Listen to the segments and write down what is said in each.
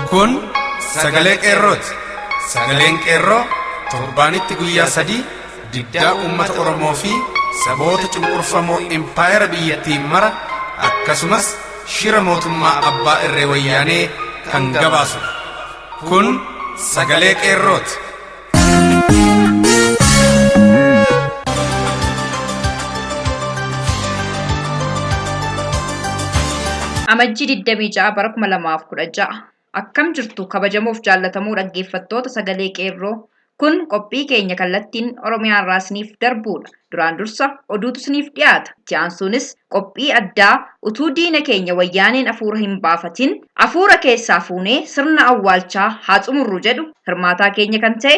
Kun sagalee qeerrooti. Sagaleen qeerroo torbaanitti guyyaa sadii diddaa uummata Oromoo fi saboota cunqurfamoo impaayera biyyattiin mara akkasumas Shira mootummaa abbaa irree wayyaanee kan gabaasu kun sagalee qeerrooti. Amajjii 26 bara 2016 Akkam jirtu kabajamoof jaallatamoo dhaggeeffattoota sagalee qeerroo kun qophii keenya kallattiin Oromiyaarraa isiniif darbuudha. Duraan dursa oduutu isiniif dhiyaata. Itti aansuunis qophii addaa utuu diina keenya wayyaaneen afuura hin baafatin afuura keessaa fuunee sirna awwaalchaa haa xumurru jedhu hirmaataa keenya kan ta'e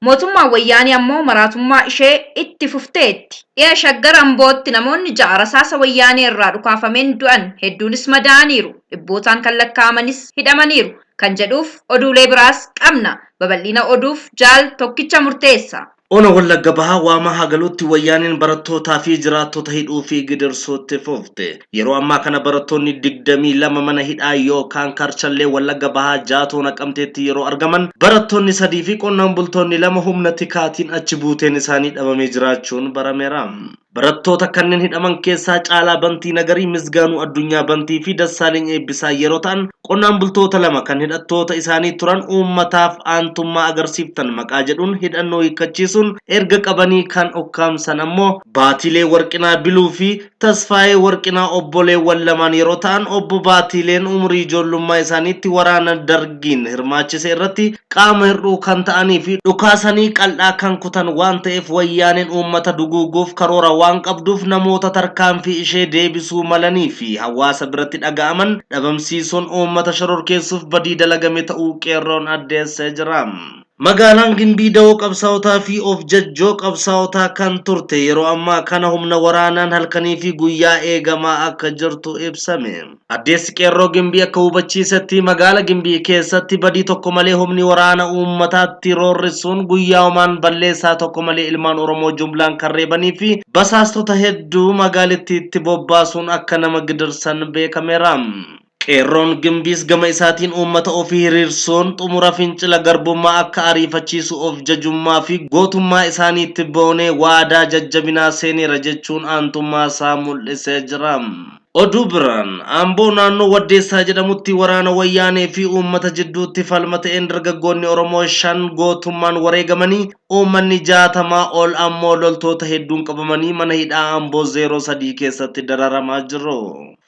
Mootummaan Wayyaanee ammoo maraatummaa ishee itti fufteetti. Dhiha Shaggar Ambootti namoonni 6 rasaasa Wayyaanee irraa dhukaafameen du'an, hedduunis madaa'aniiru, dhibbootaan kan lakkaa'amanis hidhamaniiru kan jedhuuf oduulee biraas qabna. Babal'ina oduuf Jaal Tokkicha Murteessa. Ona Wallagga Bahaa Waamaa Hagaluutti Wayyaaneen barattootaa fi jiraattota hidhuu fi gidirsuu itti fufte. Yeroo ammaa kana barattoonni 22 mana hidhaa yookaan Karchallee Wallagga Bahaa Jaatoo Naqamteetti yeroo argaman, barattoonni 3 fi qonnaan bultoonni 2 humna tikaatiin achi buuteen isaanii dhabamee jiraachuun barameera. Barattoota kanneen hidhaman keessaa Caalaa Bantii Nagarii, Misgaanuu Addunyaa Bantii fi Dassaaleny Eebbisaa yeroo ta'an, qonnaan bultoota lama kan hidhattoota isaanii turan uummataaf aantummaa agarsiiftan maqaa jedhuun hidhannoo hiikkachiisuun erga qabanii kan ukkaamsan ammoo Baatiilee Warqinaa Biluu fi Tasfaayee Warqinaa obboleewwan lamaan yeroo ta'an Obbo Baatiileen umurii ijoollummaa isaaniitti waraana Dargiin hirmaachise irratti qaama hir'uu kan ta'anii fi dhukaasanii qal'aa kan kutan waan ta'eef Wayyaaneen uummata duguuguuf karoora waan qabduuf namoota tarkaanfii ishee deebisuu malanii fi hawaasa biratti dhaga'aman dhabamsiisuun uummata shororkeessuuf badii dalagame ta'uu Qeerroon addeessee jira. Magaalaan Gimbii dawoo qabsaa'otaa fi of jajjoo qabsaa'otaa kan turte yeroo ammaa kana humna waraanaan halkanii fi guyyaa eegamaa akka jirtu ibsame. Addeessi Qeerroo Gimbii akka hubachiisetti magaala Gimbii keessatti badii tokko malee humni waraana uummataatti roorrisuun guyyaumaan balleessaa tokko malee ilmaan Oromoo jumlaan kan reebanii fi basaastota hedduu magaalittiitti bobbaasuun akka nama gidirsan beekameera. Qeerroon Gimbiis gama isaatiin uummata ofii hiriirsuun xumura fincila garbummaa akka ariifachiisu of jajummaa fi gootummaa isaaniitti boonee waadaa jajjabinaa seeneera jechuun aantummaa isaa mul'isee jira. Oduu biraan, Amboo naannoo Waddeessaa jedhamutti waraana Wayyaanee fi uummata jidduutti falma ta'een dargaggoonni Oromoo 5 gootummaan wareegamanii, uummanni 60 ol ammoo loltoota hedduun qabamanii mana hidhaa Amboo 03 keessatti dararamaa jiru.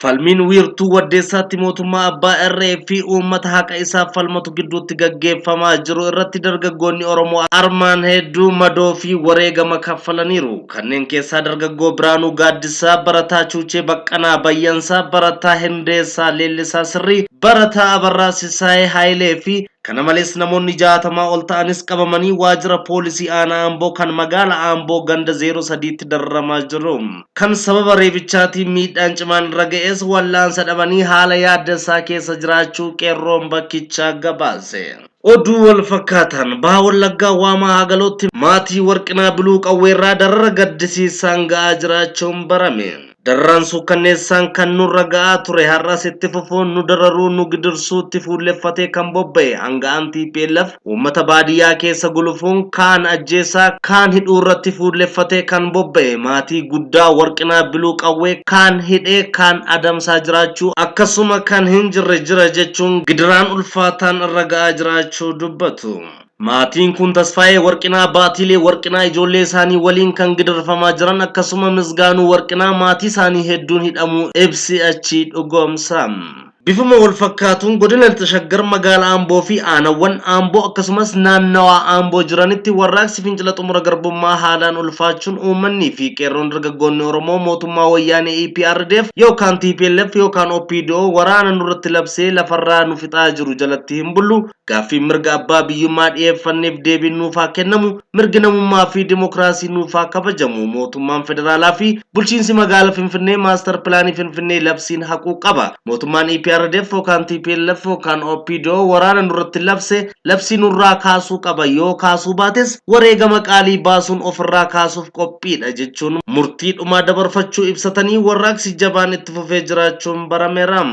Falmiin wiirtuu Waddeessaatti mootummaa abbaa irree fi uummata haqa isaaf falmatu gidduutti gaggeeffamaa jiru irratti dargaggoonni Oromoo armaan hedduu madoo fi wareegama kaffalaniiru. Kanneen keessaa dargaggoo Biraanuu Gaaddisaa, barataa Chuuchee Baqqanaa, Bayyansaa, barataa Hindeessaa Leellisaa Sirrii, barataa Abarraa Sisaayee Haayilee fi kana malees namoonni 60 ol ta'anis qabamanii waajjira poolisii aanaa Amboo kan magaala Amboo ganda 03tti dararamaa jiru. Kan sababa reebichaatiin miidhaan cimaan irra ga'es wal'aansa dhabanii haala yaaddessaa keessa jiraachuu qeerroon bakkichaa gabaase. Oduu walfakkaataan Baha Wallaggaa Waamaa Hagalootti maatii Warqinaa Biluu Qawweerraa darara gaddisiisaan ga'aa jiraachuun barame. Dararaan suukkanneessaan kan nurra ga'aa ture har'as itti fufuun nu dararuu nu gidirsuutti fuulleffatee kan bobba'e aanga'aan tplf Uummata baadiyyaa keessa gulufuun kaan ajjeessaa, kaan hidhuu irratti fuulleffatee kan bobba'e maatii guddaa Warqinaa Biluu Qawwee kaan hidhee kaan adamsaa jiraachuu akkasuma kan hin jirre jira jechuun gidiraan ulfaataan irra ga'aa jiraachuu dubbatu. Maatiin kun Tasfaayee Warqinaa, Baatiilee Warqinaa ijoollee isaanii waliin kan gidirfamaa jiran akkasuma Misgaanuu Warqinaa maatii isaanii hedduun hidhamuu ibsi achii dhugoomsa. Bifuma walfakkaatuun Godina Lixa Shaggar Magaala Amboo fi Aanawwan Amboo akkasumas naannawaa Amboo jiranitti warraaqsi fincila xumura garbummaa haalaan ulfaachuun uummannii fi qeerroon dargaggoonni Oromoo mootummaa wayyaanee EPRDF yookaan tplf yookaan opdo waraana nurratti labsee lafarraa nu fixaa jiru jalatti hin bullu Gaaffiin mirga abbaa biyyummaa dhiyeeffanneef deebiin nuuf haa kennamu, mirgi namummaa fi dimokiraasii nuuf haa kabajamu, mootummaan federaalaa fi bulchiinsi magaala Finfinnee maastar pilaanii Finfinnee labsiin haquu qaba. Mootummaan EPRDF yookaan tplf yookaan OPDO waraana nurratti labse labsii nurraa kaasuu qaba, yoo kaasuu baates wareegama qaalii baasuun ofirraa kaasuuf qophiidha jechuun murtii dhumaa dabarfachuu ibsatanii warraaqsi jabaan itti fufee jiraachuun barameera.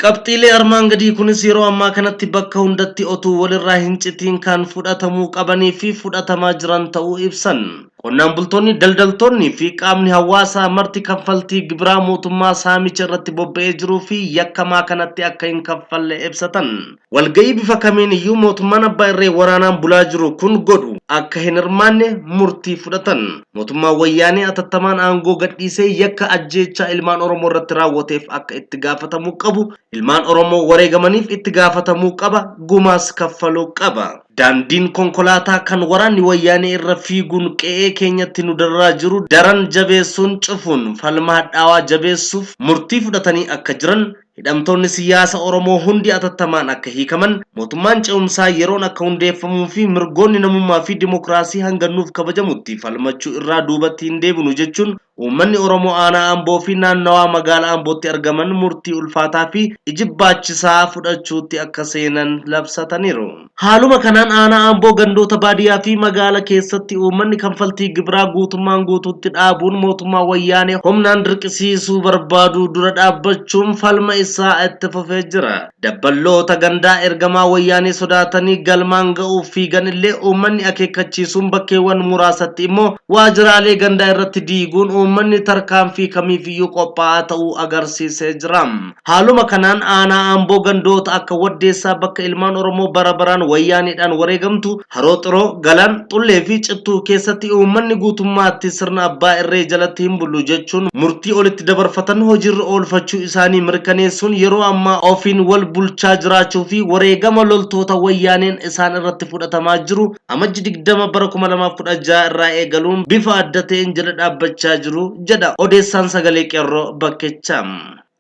Qabxiilee armaan gadii kunis yeroo ammaa kanatti bakka hundatti otuu walirraa hincitiin kan fudhatamuu qabanii fi fudhatamaa jiran ta'uu ibsan. Qonnaan bultoonni, daldaltoonnii fi qaamni hawaasaa marti kaffaltii gibiraa mootummaa saamicha irratti bobba'ee jiruu fi yakkamaa kanatti akka hin kaffalle ibsatan. walga'ii bifa kamiin iyyuu mootummaan abbaa irree waraanaan bulaa jiru kun godhu akka hin hirmaanne murtii fudhatan. Mootummaan Wayyaanee atattamaan aangoo gadhiisee yakka ajjeechaa ilmaan Oromoo irratti raawwateef akka itti gaafatamuu qabu, ilmaan Oromoo wareegamaniif itti gaafatamuu qaba, gumaas kaffaluu qaba. Daandiin konkolaataa kan waraanni Wayyaanee irra fiiguun qe'ee keenyatti nu dararaa jiru daran jabeessuun cufuun falma hadhaawaa jabeessuuf murtii fudhatanii akka jiran Hidhamtoonni siyyaasa Oromoo hundi atattamaan akka hiikaman, mootummaan ce'umsaa yeroon akka hundeeffamuu fi mirgoonni namummaa fi dimokiraasii hanga nuuf kabajamutti falmachuu irraa duubatti hin deebinu jechuun uummanni Oromoo Aanaa Amboo fi naannawaa magaala Ambootti argaman murtii ulfaataa fi ijibbaachisaa fudhachuutti akka seenan labsataniiru. Haaluma kanaan aanaa Amboo gandoota baadiyyaa fi magaala keessatti uummanni kanfaltii gibiraa guutummaan guutuutti dhaabuun mootummaa wayyaanee humnaan dirqisiisuu barbaaduu dura dhaabbachuun falma isaa itti fufee jira. Dabballoota gandaa ergamaa wayyaanee sodaatanii galmaan ga'uuf fiigan illee uummanni akeekkachiisuun bakkeewwan muraasatti immoo waajiraalee gandaa irratti diiguun uummanni tarkaanfii kamiifiyyuu qophaa'aa ta'uu agarsiisee jira. Haaluma kanaan aanaa Amboo gandoota akka Waddeessaa bakka ilmaan Oromoo bara baraan Wayyaaneedhaan wareegamtu, Haroo Xiroo, Galaan, Xullee fi Cittuu keessatti uummanni guutummaatti sirna abbaa irree jalatti hin bullu jechuun murtii olitti dabarfatan hojiirra oolfachuu isaanii mirkaneessuun yeroo ammaa ofiin wal bulchaa jiraachuu fi wareegama loltoota Wayyaaneen isaan irratti fudhatamaa jiru Amajji 20 bara 2016 irraa eegaluun bifa adda ta'een jala dhaabbachaa jiru jedha odeessaan Sagalee Qeerroo bakkichaa.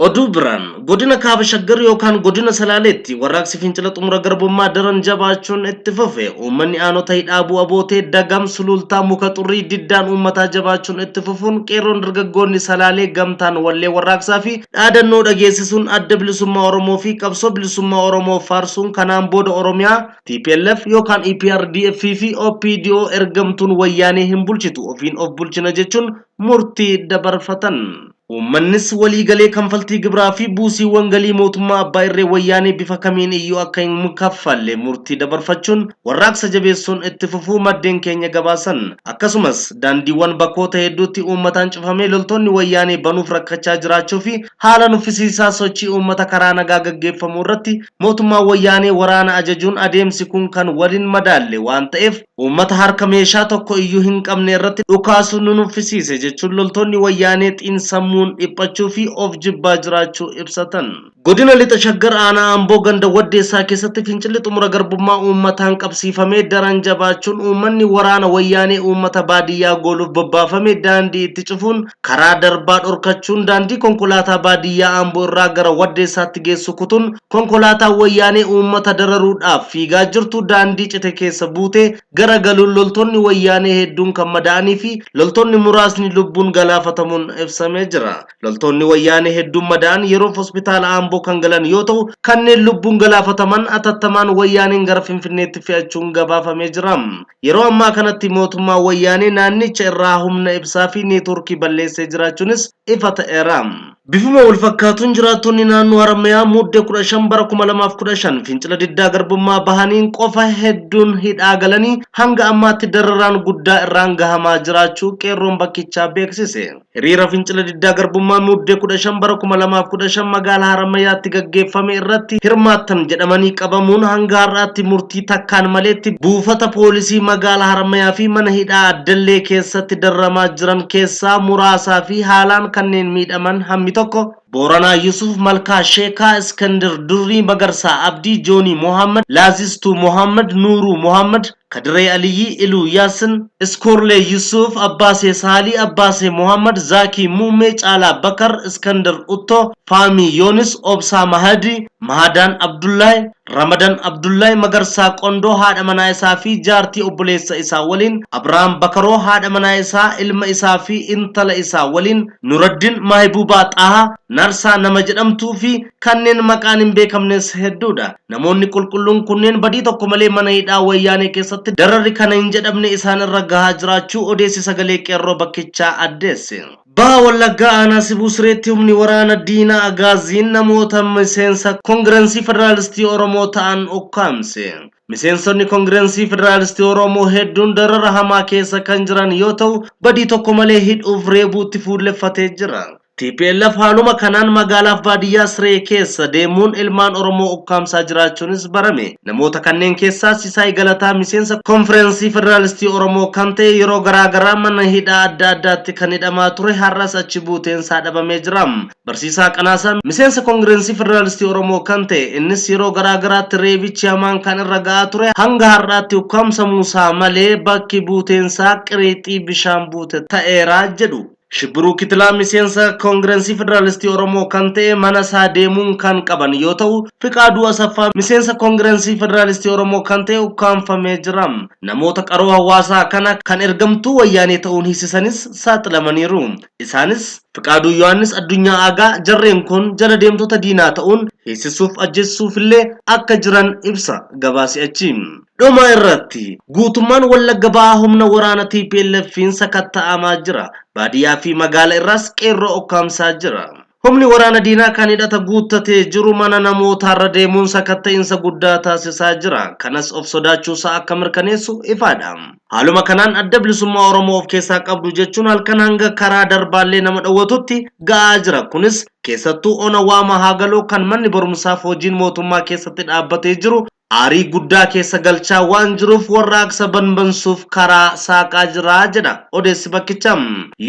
Oduu biraan godina kaaba shaggar yookaan godina salaaleetti warraaqsi fincila xumura garbummaa daran jabaachuun itti fufe uummanni aanota hidhaabuu abootee dagam suluultaa muka xurrii diddaan uummataa jabaachuun itti fufuun qeerroon dargaggoonni salaalee gamtaan wallee warraaqsaa fi dhaadannoo dhageessisuun adda bilisummaa oromoo fi qabsoo bilisummaa oromoo faarsuun kanaan booda oromiyaa tplf yookaan eprdf fi opdo ergamtuun wayyaanee hin bulchitu ofiin of bulchina jechuun murtii dabarfatan. Uummannis walii galee kanfaltii gibiraa fi buusiiwwan galii mootummaa abbaa irree wayyaanee bifa kamiin iyyuu akka hin kaffalle murtii dabarfachuun warraaqsa jabeessuun itti fufuu maddeen keenya gabaasan. Akkasumas, daandiiwwan bakkoota hedduutti uummataan cufamee loltoonni wayyaanee banuuf rakkachaa jiraachuu fi haala nuffisiisaa sochii uummata karaa nagaa gaggeeffamu irratti mootummaan wayyaanee waraana ajajuun adeemsi kun kan wal hin madaalle waan ta'eef Uummata harka meeshaa tokko iyyuu hin qabne irratti dhukaasuu nu nuffisiise jechuun loltoonni Wayyaanee xiinsammuun dhiphachuu fi of jibbaa jiraachuu ibsatan. Godina Lixa Shaggar Aanaa Amboo ganda Waddeessaa keessatti fincilli xumura garbummaa uummataan qabsiifamee daran jabaachuun uummanni waraana Wayyaanee uummata baadiyyaa gooluuf bobbaafame daandii itti cufuun karaa darbaa dhorkachuun daandii konkolaataa baadiyyaa Amboo irraa gara Waddeessaatti geessu kutuun Konkolaataan Wayyaanee uummata dararuudhaaf fiigaa jirtu daandii cite keessa buutee gara galuun loltoonni Wayyaanee hedduun kan madaa'anii fi loltoonni muraasni lubbuun galaafatamuun ibsamee jira. Loltoonni Wayyaanee hedduun madaa'an yeroof Hospitaala Aamboo kan galan yoo ta'u, kanneen lubbuun galaafataman atattamaan Wayyaaneen gara Finfinneetti fe'achuun gabaafamee jira. Yeroo ammaa kanatti mootummaan Wayyaanee naannicha irraa humna ibsaa fi neetwoorkii balleessee jiraachuunis ifa ta'eera. Bifuma walfakkaatuun jiraattonni naannoo Harammayaa Mudde 15 bara 2015 fincila diddaa garbummaa bahaniin qofa hedduun hidhaa galanii hanga ammaatti dararaan guddaa irraan gahamaa jiraachuu qeerroon bakkichaa beeksise. Hiriira fincila diddaa garbummaa Mudde 15 bara 2015 magaalaa Harammayaatti gaggeeffame irratti hirmaattan jedhamanii qabamuun hanga har'aatti murtii takkaan maleetti buufata poolisii magaalaa Harammayaa fi mana hidhaa Addallee keessatti dararamaa jiran keessaa muraasaa fi haalaan keessaa kanneen miidhaman hammi tokko Booranaa Yusuuf Malkaa Sheekaa, Iskandir Durrii, Magarsaa Abdii, Joonii Mohaammad, Laazistuu Mohaammad, Nuuruu Mohaammad, Kadiree Aliyyii, Iluu Yaassin, Iskoorlee Yusuuf, Abbaasee Saalii, Abbaasee Mohaammad, Zaakii Muummee, Caalaa Bakar, Iskandir Uttoo, Faamii Yoonis, Obsaa Mahadii, Mahadaan Abdullaay, Ramadan Abdullahi Magarsaa Qondoo haadha manaa isaa fi jaartii obboleessa isaa waliin, Abraham Bakaroo haadha manaa isaa, ilma isaa fi intala isaa waliin, Nuraddin Mahibuubaa Xaha, Narsaa nama jedhamtuu fi kanneen maqaan hin beekamnes hedduu dha. Namoonni qulqulluun kunneen badii tokko malee mana hidhaa Wayyaanee keessatti dararri kana hin jedhamne isaan irra gahaa jiraachuu odeessi Sagalee Qeerroo bakkichaa addeesse. Baha Wallaggaa Aanaa Sibuu Sireetti humni waraana diinaa Agaaziin namoota miseensa Kongiransii Federaalistii Oromoo ta'an ukkaamse. Miseensonni Kongiransii Federaalistii Oromoo hedduun darara hamaa keessa kan jiran yoo ta'u, badii tokko malee hidhuuf reebuutti fuulleffatee jira. Tplf haaluma kanaan magaalaaf baadiyyaa Siree keessa deemuun ilmaan Oromoo ukkaamsaa jiraachuunis barame. Namoota kanneen keessaa Sisaay Galataa miseensa Konfirensii Federaalistii Oromoo kan ta'e yeroo garaa garaa mana hidhaa adda addaatti kan hidhamaa ture har'as achi buuteen isaa dhabamee jira. Barsiisaa Qanaasaa miseensa Kongirensii Federaalistii Oromoo kan ta'e innis yeroo garaa garaatti reebichi hamaan kan irra ga'aa ture hanga har'aatti ukkaamsamuu isaa malee bakki buuteen isaa qiriixii bishaan buute ta'eera jedhu. Shibbiruu Kitilaa miseensa Koongirensii Federaalistii Oromoo kan ta'e mana isaa deemuun kan qaban yoo ta'u, Fiqaaduu Asaffaa miseensa Koongirensii Federaalistii Oromoo kan ta'e ukkaamfamee jira. Namoota qaroo hawaasaa kana kan ergamtuu Wayyaanee ta'uun hiisisanis saaxilamaniiru. Isaanis, Fiqaaduu Yohaannis Addunyaa Aagaa, jarreen kun jala deemtota diinaa ta'uun hiisisuuf ajjeesisuufillee akka jiran ibsa gabaasi achi. Dhuma irratti, guutummaan Wallagga Bahaa humna waraana TPLFiin sakatta'amaa jira. Baadiyyaa fi magaala irraas qeerroo okkaamsaa jira. Humni waraana diinaa kan hidhata guuttatee jiru mana namootaarra deemuun sakatta'insa guddaa taasisaa jira. Kanas of sodaachuusaa akka mirkaneessu ifaadha. Haaluma kanaan Adda Bilisummaa Oromoo of keessaa qabdu jechuun halkan hanga karaa Darbaallee nama dhowwatutti ga'aa jira. Kunis keessattuu Ona Waamaa Haagaloo kan manni barumsaaf hojiin mootummaa keessatti dhaabbatee jiru aarii guddaa keessa galchaa waan jiruuf warraaqsa banbansuuf karaa saaqaa jira jedha odeessi bakkicha.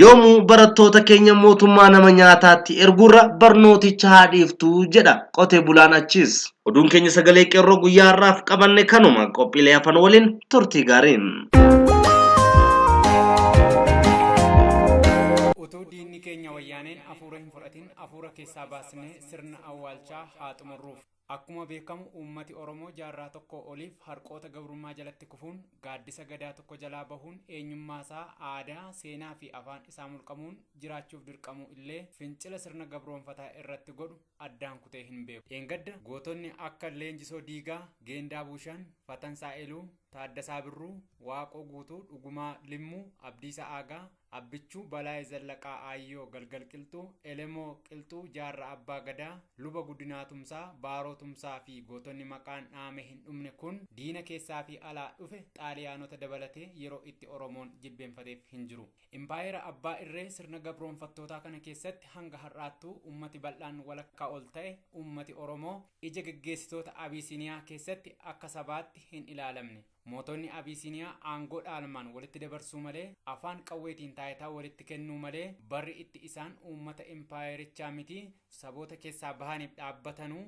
Yoomuu barattoota keenya mootummaa nama nyaataatti erguurra barnooticha haa dhiiftu jedha qotee bulaan achiis. Oduun keenya Sagalee Qeerroo guyyaa har'aaf qabanne kanuma. Qophiilee hafan waliin turtii gaarii. Utuu diinni keenya wayyaaneen afuura hin fudhatin afuura keessaa baasnee sirna awwaalchaa haa xumurruuf. Akkuma beekamu uummati Oromoo jaarraa tokkoo oliif harqoota gabrummaa jalatti kufuun, gaaddisa Gadaa tokko jalaa bahuun eenyummaa isaa, aadaa, seenaa fi afaan isaa mulqamuun jiraachuuf dirqamuu illee fincila sirna gabroomfataa irratti godhu addaan kutee hin beeku. Dheengadda gootonni akka Leenjisoo Diigaa, Geendaa Buushan, Fatansaa Eluu, Taaddasaa Birruu, Waaqoo Guutuu, Dhugumaa Limmuu, Abdiisa Aagaa, Abbichuu Balaay Zallaqaa Aayyoo Galgal Qilxuu, Elemoo Qilxuu, Jaarra Abbaa Gadaa, Luba Guddinaa Tumsaa, Baaroo Tumsaa fi gootonni maqaan dhaame hin dhumne kun diina keessaa fi alaa dhufe Xaaliyaanota dabalatee yeroo itti Oromoon jilbeenfateef hin jiru. Impaayera abbaa irree sirna gabroonfattootaa kana keessatti hanga har'aattuu ummati bal'aan walakkaa ol ta'e ummati Oromoo ija geggeessitoota Abiisiniyaa keessatti akka sabaatti hin ilaalamne. Mootonni Abiisiiniyaa aangoo dhaalmaan walitti dabarsuu malee, afaan qawweetiin taayitaa walitti kennuu malee, barri itti isaan uummata impaayerichaa miti saboota keessaa bahaniif dhaabbatanu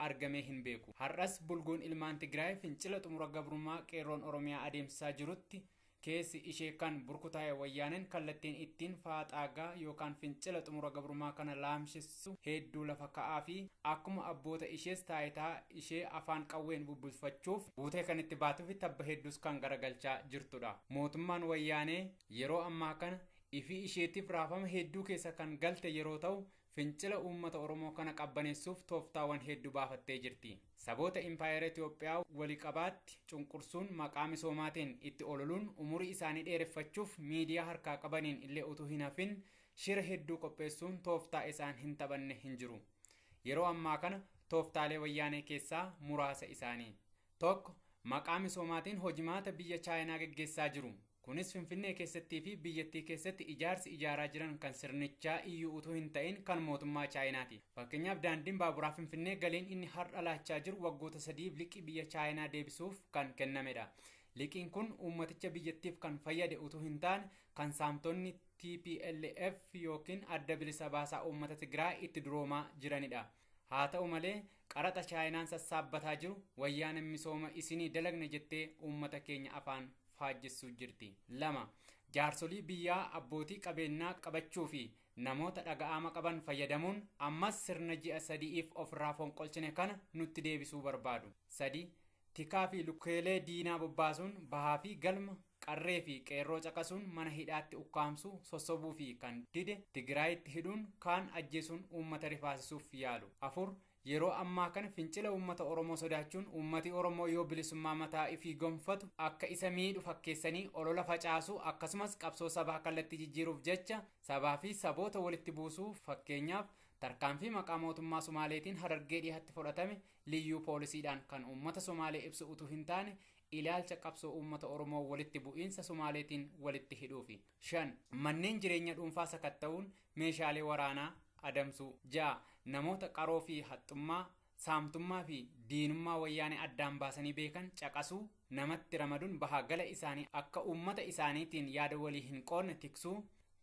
argamee hin beeku. Har'as bulguun ilmaan Tigraay fincila xumura gabrummaa Qeerroon Oromiyaa adeemsisaa jirutti keessi ishee kan burkutaa'e Wayyaaneen kallattiin ittiin faaxaagaa yookaan fincila xumura gabrummaa kana laamshistu, dandeessu heedduu lafa ka'aafi akkuma abboota ishees taayitaa ishee afaan qawween bubbulfachuuf buutee kan itti baatuufi tabba hedduus kan garagalchaa jirtudha. Mootummaan Wayyaanee yeroo ammaa kana ifii isheetiif raafama heedduu keessa kan galte yeroo ta'u fincila uummata Oromoo kana qabbaneessuuf tooftaawan heeddu baafattee jirti. Saboota Impaayera Itoophiyaa wali qabaatti cunqursuun maqaa misoomaatiin itti ololuun umurii isaanii dheereffachuuf miidiyaa harkaa qabaniin illee utuu hin hafin Shira hedduu qopheessuun tooftaa isaan hin taphanne hin jiru. Yeroo ammaa kana tooftaalee wayyaanee keessaa muraasa isaanii. Tokko, maqaa misoomaatiin hojimaata biyya Chaayinaa geggeessaa jiru. Kunis Finfinnee keessattii fi biyyattii keessatti ijaarsi ijaaraa jiran kan sirnichaa iyyuu utuu hin ta'in kan mootummaa Chaayinaati. Fakkeenyaaf daandiin baaburaa Finfinnee galiin inni har'a laachaa jiru waggoota sadiif liqii biyya Chaayinaa deebisuuf kan kennamedha. Liqiin kun uummaticha biyyattiif kan fayyade utuu hin taane kan saamtonni tplf ykn Adda Bilisa Baasaa Uummata Tigraay itti duroomaa jiranidha. Haa ta'u malee qaraxa Chaayinaan sassaabbataa jiru Wayyaanen misooma isinii dalagne jettee uummata keenya afaan faajjessuu jirti. 2. Jaarsolii biyyaa abbootii qabeennaa qabachuu fi namoota dhaga'aama qaban fayyadamuun ammas sirna ji'a sadi'iif ofirraa fonqolchine kana nutti deebisuu barbaadu. 3. Tikaa fi lukkeelee diinaa bobbaasuun bahaa fi galma, qarree fi qeerroo caqasuun mana hidhaatti ukkaamsuu, sossobuu fi kan dide Tigraayitti hidhuun kaan ajjeesuun uummata rifaasisuuf yaalu. 4, Yeroo ammaa kana fincila uummata Oromoo sodaachuun uummati Oromoo yoo bilisummaa mataa ifii gonfatu akka isa miidhu fakkeessanii olola facaasuu akkasumas qabsoo sabaa kallattii jijjiiruuf jecha sabaa fi saboota walitti buusuu fakkeenyaaf tarkaanfii maqaa mootummaa Sumaaleetiin Harargee Dhihatti fodhatame Liyyuu poolisiidhaan kan uummata Somaalee ibsu utuu hin taane ilaalcha qabsoo uummata Oromoo walitti bu'iinsa Somaaleetiin walitti hidhuufi. 5. Manneen jireenya dhuunfaa sakatta'uun meeshaalee waraanaa adamsuu. 6. Namoota qaroo fi haxxummaa, saamtummaa fi diinummaa Wayyaanee addaan baasanii beekan caqasuu, namatti ramaduun baha gala isaanii akka uummata isaaniitiin yaada walii hin qoodne tiksuu.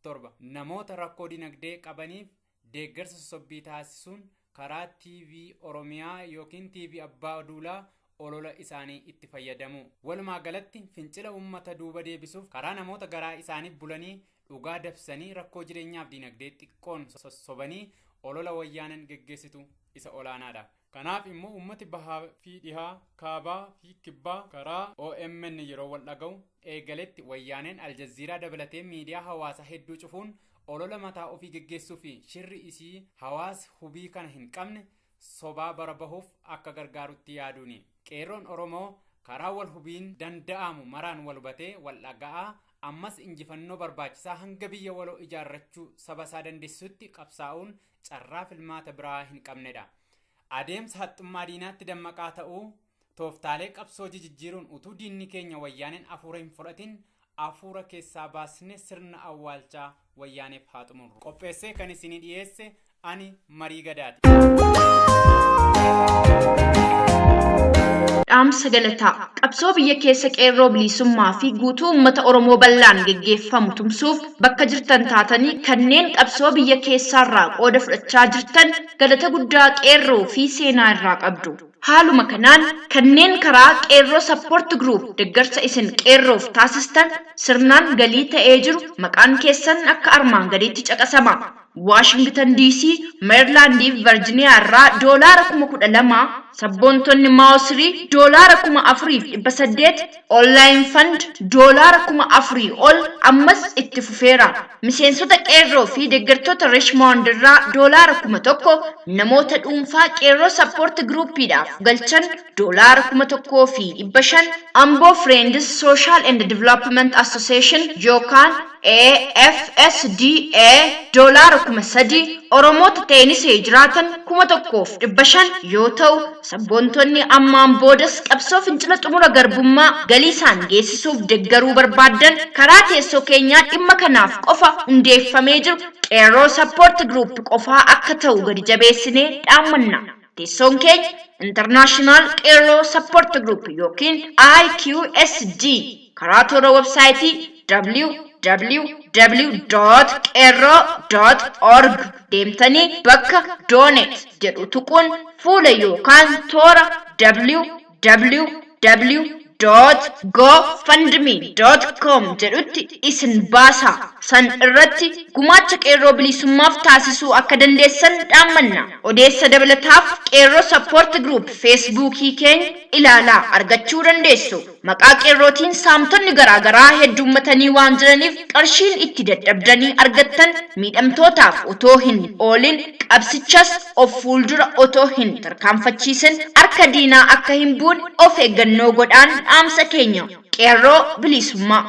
7. Namoota rakkoo dinagdee qabaniif deeggarsa sosobbii taasisuun karaa TV Oromiyaa ykn TV Abbaa Duulaa olola isaanii itti fayyadamu. Walumaa galatti fincila uummata duuba deebisuuf karaa namoota garaa isaaniif bulanii dhugaa dabsanii rakkoo jireenyaaf diinagdee xiqqoon sossobanii olola Wayyaaneen geggeessitu isa olaanaadha. Kanaaf immoo uummati bahaa fi dhihaa, kaabaa fi kibbaa karaa omn yeroo wal dhaga'u eegaletti wayyaaneen Aljaziiraa dabalatee miidiyaa hawaasaa hedduu cufuun olola mataa ofii geggeessuu fi shirri isii hawaasi hubii kana hin qabne sobaa bara bahuuf akka gargaarutti yaaduuni. Qeerroon Oromoo karaa wal hubiin danda'aamu maraan wal hubatee wal dhaga'aa ammas injifannoo barbaachisaa hanga biyya waloo ijaarrachuu saba isaa dandeessisutti qabsaa'uun carraa filmaata biraa hin qabnedha. Adeemsa haxxummaa diinaatti dammaqaa ta'uu tooftaalee qabsoo jijijjiiruun utuu diinni keenya wayyaaneen afuura hin fudhatin afuura keessaa baasne sirna awwaalchaa wayyaaneef haa xumurru. Qopheessee kan isinii dhiyeesse ani marii gadaati. Dhaamsa galataa qabsoo biyya keessa qeerroo bilisummaa fi guutuu uummata Oromoo bal'aan geggeeffamu tumsuuf bakka jirtan taatanii kanneen qabsoo biyya keessaarraa qooda fudhachaa jirtan galata guddaa Qeerroo fi seenaa irraa qabdu. Haaluma kanaan kanneen karaa Qeerroo Support Group deggarsa isin Qeerroof taasistan sirnaan galii ta'ee jiru maqaan keessan akka armaan gadiitti caqasama. Waashingtan DC, Meerilaandii fi Varjiniyaa irraa doolaara kuma kudha lama, sabboontonni Mao Sri doolaara kuma afurii fi dhibba saddeet, Online Fund doolaara kuma afurii ol ammas itti fufeera. Miseensota Qeerroo fi deeggartoota Richmond irraa doolaara kuma tokko, namoota dhuunfaa Qeerroo Support Group dhaaf galchan doolaara kuma tokkoo fi dhibba shan, Ambo Friends Social and Development Association yookaan FSDA doolaara 3,000, Oromoota Teenisee jiraatan 1,500 yoo ta'u, sabboontonni ammaan boodas qabsoo fincila xumura garbummaa galiisaan geessisuuf deggaruu barbaaddan karaa teessoo keenyaa dhimma kanaaf qofa hundeeffamee jiru Qeerroo Support Group qofaa akka ta'u gadi jabeessinee dhaammanna. Teessoon keenya International Qeerroo Support Group yookiin IQSG karaa toora websaayitii www.qeerroo.org deemtanii bakka Donate jedhu tuquun fuula yookaan toora www www.gofundme.com jedhutti isin baasa. San irratti gumaacha qeerroo bilisummaaf taasisuu akka dandeessan dhaammanna. Odeessa dabalataaf Qeerroo Support Group Feesbuukii keenya ilaalaa argachuu dandeessu. Maqaa qeerrootiin saamtonni garaa garaa hedduummatanii waan jiraniif qarshiin itti dadhabdanii argattan miidhamtootaaf otoo hin oolin qabsichas of fuuldura otoo hin tarkaanfachiisin harka diinaa akka hin buune of eeggannoo godhaan dhaamsa keenya. Qeerroo Bilisummaa.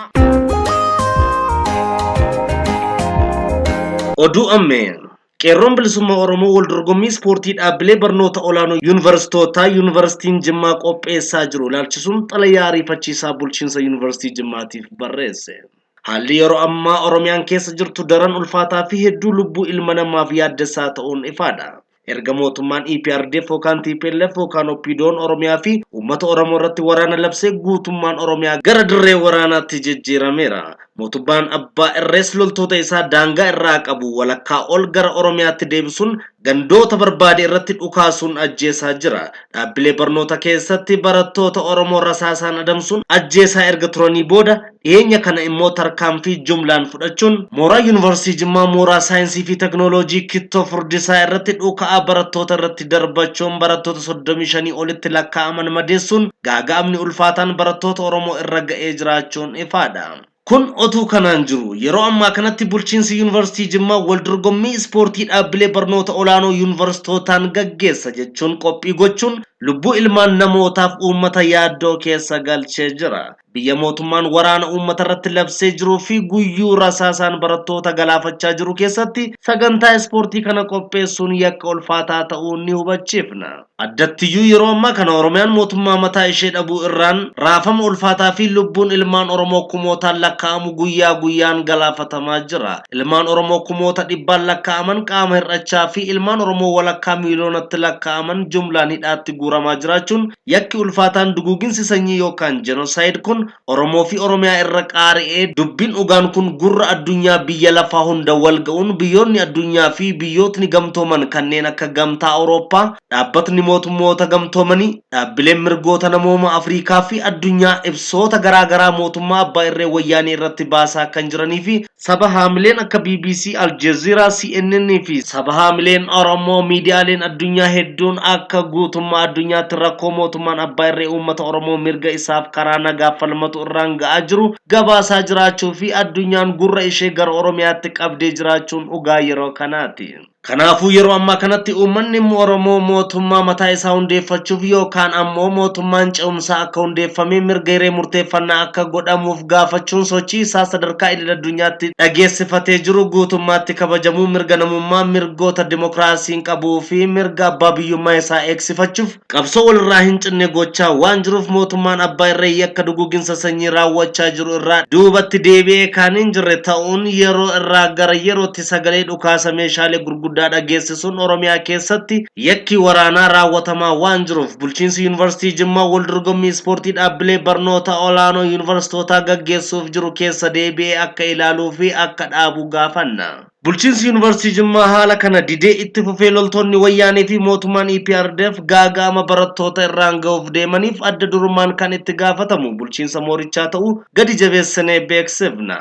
Oduu Ammeeyaa Qeerroon Bilisummaa Oromoo waldorgommii ispoortii dhaabbilee barnoota olaanoo Yuunivarsitootaa Yuunivarsitiin Jimmaa qopheessaa jiru ilaalchisuun xalayaa ariifachiisaa bulchiinsa Yuunivarsitii Jimmaatiif barreesse. Haalli yeroo ammaa Oromiyaan keessa jirtu daran ulfaataa fi hedduu lubbuu ilma namaaf yaaddessaa ta'uun ifaadha. Erga mootummaan EPRDF yookaan tplf yookaan OPDOn Oromiyaa fi uummata Oromoo irratti waraana labsee guutummaan Oromiyaa gara dirree waraanaatti jijjiirameera. Mootummaan abbaa irrees loltoota isaa daangaa irraa qabu walakkaa ol gara Oromiyaatti deebisuun gandoota barbaade irratti dhukaasuun ajjeesaa jira. Dhaabbilee barnoota keessatti barattoota Oromoo rasaasaan adamsuun ajjeesaa erga turanii booda dhiyeenya kana immoo tarkaanfii jumlaan fudhachuun mooraa Yuunivarsiitii Jimmaa mooraa Saayinsii fi Teknooloojii Kittoo Furdisaa irratti dhuka'aa barattoota irratti keessatti darbachuun barattoota 35 olitti lakkaa'aman madeessuun gaaga'amni ulfaataan barattoota Oromoo irra ga'ee jiraachuun ifaadha. Kun otuu kanaan jiru yeroo ammaa kanatti bulchiinsi Yuunivarsiitii Jimmaa wal dorgommii ispoortii dhaabbilee barnoota olaanoo yuunivarsitootaan gaggeessa jechuun qophii gochuun lubbuu ilmaan namootaaf uummata yaaddoo keessa galchee jira. Biyya mootummaan waraana uummatarratti labsee jiruu fi guyyuu rasaasaan barattoota galaafachaa jiru keessatti sagantaa ispoortii kana qopheessuun yakka ulfaataa ta'uu ni hubachiifna. Addattiyyuu yeroo ammaa kana Oromiyaan mootummaa mataa ishee dhabuu irraan raafama ulfaataa fi lubbuun ilmaan Oromoo kumootaan lakkaa'amu guyyaa guyyaan galaafatamaa jira. Ilmaan Oromoo kumoota dhibbaan lakkaa'aman qaama hir'achaa fi ilmaan Oromoo walakkaa miiliyoonatti lakkaa'aman jumlaan hidhaatti guuramaa jiraachuun Yakki ulfaataan duguuginsi sanyii yookaan Genocide kun Oromoo fi Oromiyaa irra qaari'ee dubbin dhugaan kun gurra addunyaa biyya lafaa hunda wal ga'uun biyyoonni addunyaa fi biyyootni gamtooman kanneen akka Gamtaa Awurooppaa, Dhaabbatni Mootummoota Gamtoomanii, dhaabbileen mirgoota namooma Afriikaa fi addunyaa ibsoota garaa garaa mootummaa abbaa irree Wayyaanee irratti baasaa kan jiranii fi Saba-haamileen akka bbc, Aljeziiraa, CNN fi saba-haamileen Oromoo miidiyaaleen addunyaa hedduun akka guutummaa addunyaatti rakkoo mootummaan abbaa irree uummata Oromoo mirga isaaf karaa nagaa falmatu irraan ga'aa jiru gabaasaa jiraachuu fi addunyaan gurra ishee gara Oromiyaatti qabdee jiraachuun dhugaa yeroo kanaati. Kanaafuu yeroo ammaa kanatti uummanni Oromoo mootummaa mataa isaa hundeeffachuuf yookaan ammoo mootummaan ce'umsaa akka hundeeffamee mirga hiree murteeffannaa akka godhamuuf gaafachuun sochii isaa sadarkaa idil addunyaatti dhageessifatee jiru guutummaatti kabajamuu mirga namummaa, mirgoota dimokiraasiin qabuu fi mirga abbaa biyyummaa isaa eegsifachuuf Qabsoo walirraa hin cinne gochaa waan jiruuf mootummaan abbaa irree yakka duguuginsa sanyii raawwachaa jiru irraa duubatti deebi'ee kan hin jirre ta'uun yeroo irraa gara yerootti sagalee dhukaasa meeshaalee gurguddaa dhageessisuun Oromiyaa keessatti yakki waraanaa raawwatamaa waan jiruuf bulchiinsi Yuunivarsiitii Jimmaa waldorgommii ispoortii dhaabbilee barnoota olaanoo Yuunivarsitootaa gaggeessuuf jiru keessa deebi'ee akka ilaaluu fi akka dhaabu gaafanna. Bulchiinsi Yuunivarsiitii Jimmaa haala kana didee itti fufee loltoonni Wayyaanee fi mootummaan EPRDF gaaga'ama barattoota irraan ga'uuf deemaniif adda durummaan kan itti gaafatamu bulchiinsa moorichaa ta'uu gadi jabeessinee beeksifna.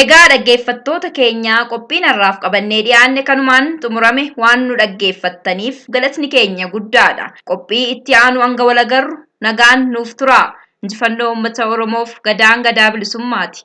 Egaa dhaggeeffattoota keenya qophiin har'aaf qabannee dhiyaanne kanumaan xumurame waan nu dhaggeeffattaniif galatni keenya guddaadha. Qophii itti aanu hanga wal agarru nagaan nuuf turaa. Injifannoo uummata Oromoof Gadaan Gadaa Bilisummaati.